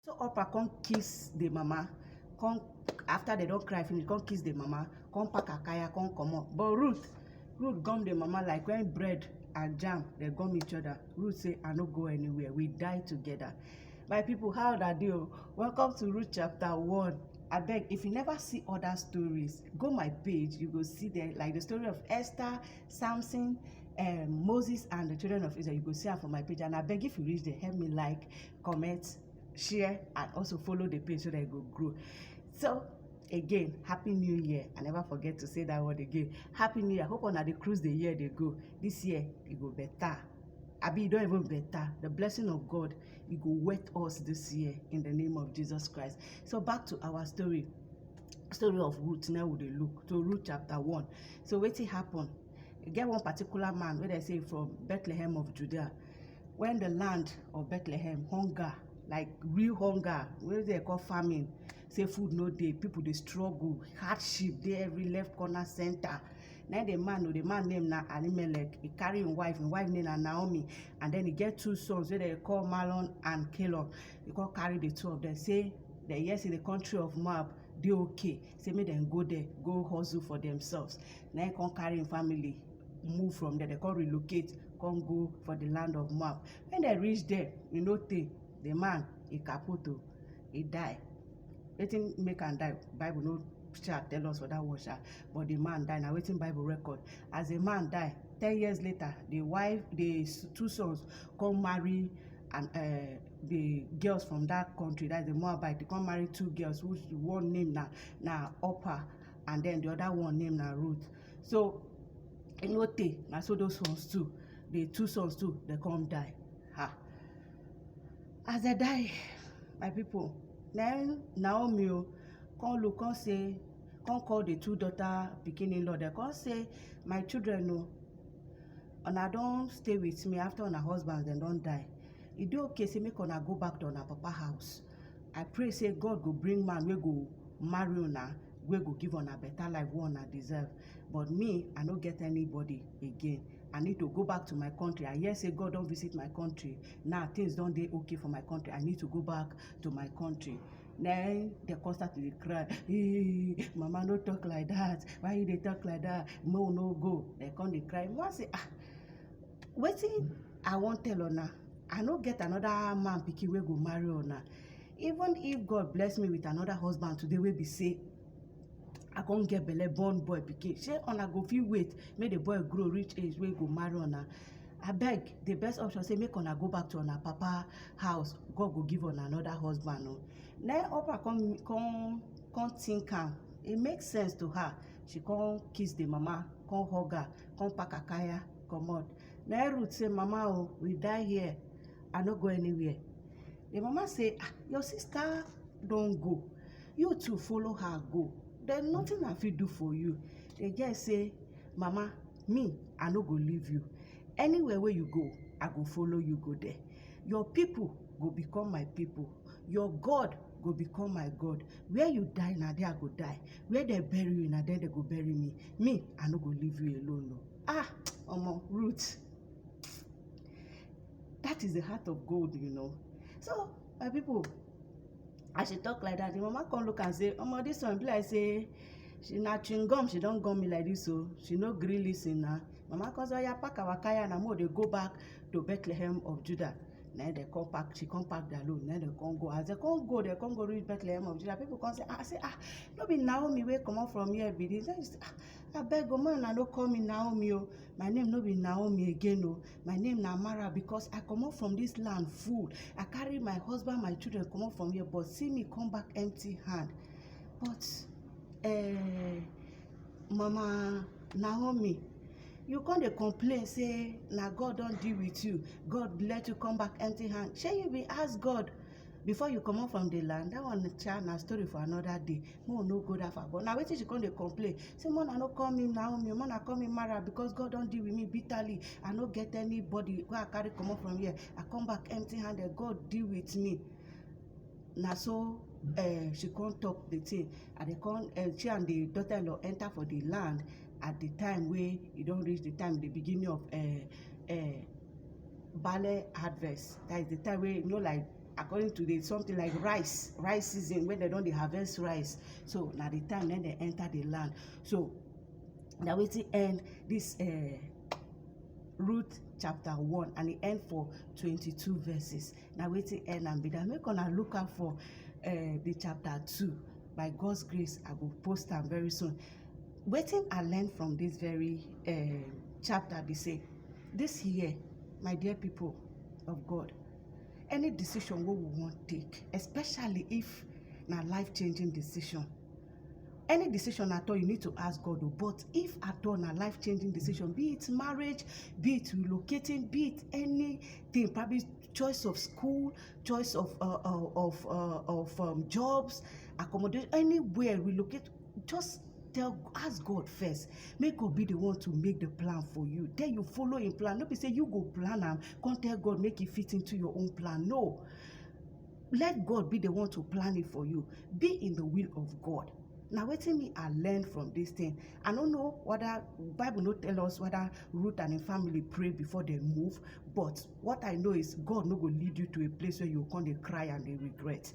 so upper come kiss the mama come after they don cry finish come kiss the mama come pack her kaya come comot but ruth ruth gum the mama like when bread and jam dey gum each other ruth say i no go anywhere we die together my people how una dey o welcome to ruth chapter one abeg if you never see other stories go my page you go see there like the story of esther samson um, moses and the children of israel you go see am for my page and abeg if you reach there help me like comment share and also follow the page so that it go grow so again happy new year i never forget to say that word again happy new year i hope una dey cruise the year dey go this year e go better abi e don even better the blessing of god e go wet us this year in the name of jesus christ so back to our story story of ruth now we dey look to ruth chapter one so wetin happen e get one particular man wey dem say from bethlehem of judea when the land of bethlehem hunger like real hunger wey dey call famine say food no dey people dey struggle hardship dey every left corner center na the man o the man name na alimelech he carry him wife him wife name na naomi and then he get two sons wey dem call malon and caleb he come carry the two of them say dem hear say the country of moab dey okay say make dem go there go hustle for themselves na him come carry him family move from there they come relocate come go for the land of moab when they reach there e no tey the man e kaput o e die wetin make am die bible no sha tell us for that one sha but the man die na wetin bible record as the man die ten years later the wife the s- two sons come marry and uh, the girls from that country, that's the Moabite, they come marry two girls whose one name na na Opa and then the other one name na Ruth. So e no tey na so those sons too, the two sons too, they come die. Ha. As they die, my people, then Naomi o come look come say come call the two daughter pikin in-law dem come say my children o una don stay with me after una husbands dem don die e dey okay say make una go back to una papa house i pray say god go bring man wey go marry una wey go give una better life wey una deserve but me i no get anybody again i need to go back to my country i hear say god don visit my country now things don dey okay for my country i need to go back to my country then dem come start to dey cry ee mama no talk like that why you dey talk like that mo no go dem come dey cry mo say ah wetin I wan tell una, I no get another man pikin wey go marry una. Even if God bless me with another husband today wey be say I come get belle born boy pikin, shey una go fit wait make the boy grow reach age wey go marry una? Abeg, the best option say make una go back to una papa house, God go give una another husband o. Na im Oprah come come come think am, e make sense to her, she come kiss the mama, come hug her, come pack her kaya comot. Na im Ruth say, Mama o, we die here, I no go anywhere. Im mama say, Ah, your sister don go, you too follow her go, then nothing I fit do for you. The girl say, Mama, me, I no go leave you. Anywhere wey you go, I go follow you go there. Your people go become my people, your God go become my God. Where you die, na there I go die. Where dem bury you, na there dem go bury me. Me, I no go leave you alone o. Ah, Omo, Ruth. That is the heart of gold, you know. So, my people, as she talk like that, the mama come look and say, Omo, this one be like say, she na chewing gum, she don gum me like this, so she no gree listen na. Mama come say, oya pack our kaya na mo dey go back to Bethlehem of Judah. na dem come pack she come pack their load na dem come go as dem come go dem come go reach bethlehem of judah people come say ah say ah no be naomi wey comot from here be this then she say ah Abeg o ma una no call me Naomi o, my name no be Naomi again o, my name na Mara because I comot from dis land full, I carry my husband, my children comot from here but see me come back empty hand. But um mama Naomi you come dey complain sey na God don deal with you, God let you come back empty hand, shey you be ask God before you comot from the land that one cha na story for another day make we no go that far but na wetin she come dey complain say make una no call me naomi make una call me mara because god don deal with me bitterly i no get anybody wey i carry comot from here i come back empty handed god deal with me na so uh, she come talk the thing and they come uh, she and the daughter-in-law enter for the land at the time wey e don reach the time the beginning of uh, uh, barley harvest that is the time wey you know like according to the something like rice rice season when they don dey harvest rice so na the time then they enter the land so na wetin end this uh, Ruth chapter one and e end for twenty-two verses na wetin end am be that make una look out for uh, the chapter two by God's grace I go post am very soon Wetin I learn from this very um chapter be say this year my dear people of God any decision wey we wan take especially if na life changing decision any decision at all you need to ask God o but if at all na life changing decision be it marriage be it relocating be it anything probably choice of school choice of uh, uh, of uh, of um, jobs accommodation anywhere relocate just tell ask god first make god be the one to make the plan for you then you follow him plan no be say you go plan am come tell god make e fit into your own plan no let god be the one to plan it for you be in the will of god na wetin me i learn from this thing i no know whether bible no tell us whether ruth and im family pray before dem move but what i know is god no go lead you to a place where you go come dey cry and dey regret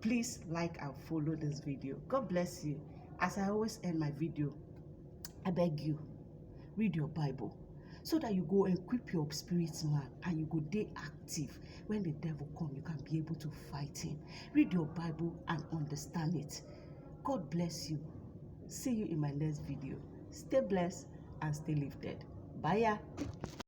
please like and follow this video god bless you as i always end my video i beg you read your bible so that you go equip your spirit man and you go dey active when the devil come you can be able to fight him read your bible and understand it god bless you see you in my next video stay blessed and stay lifted bye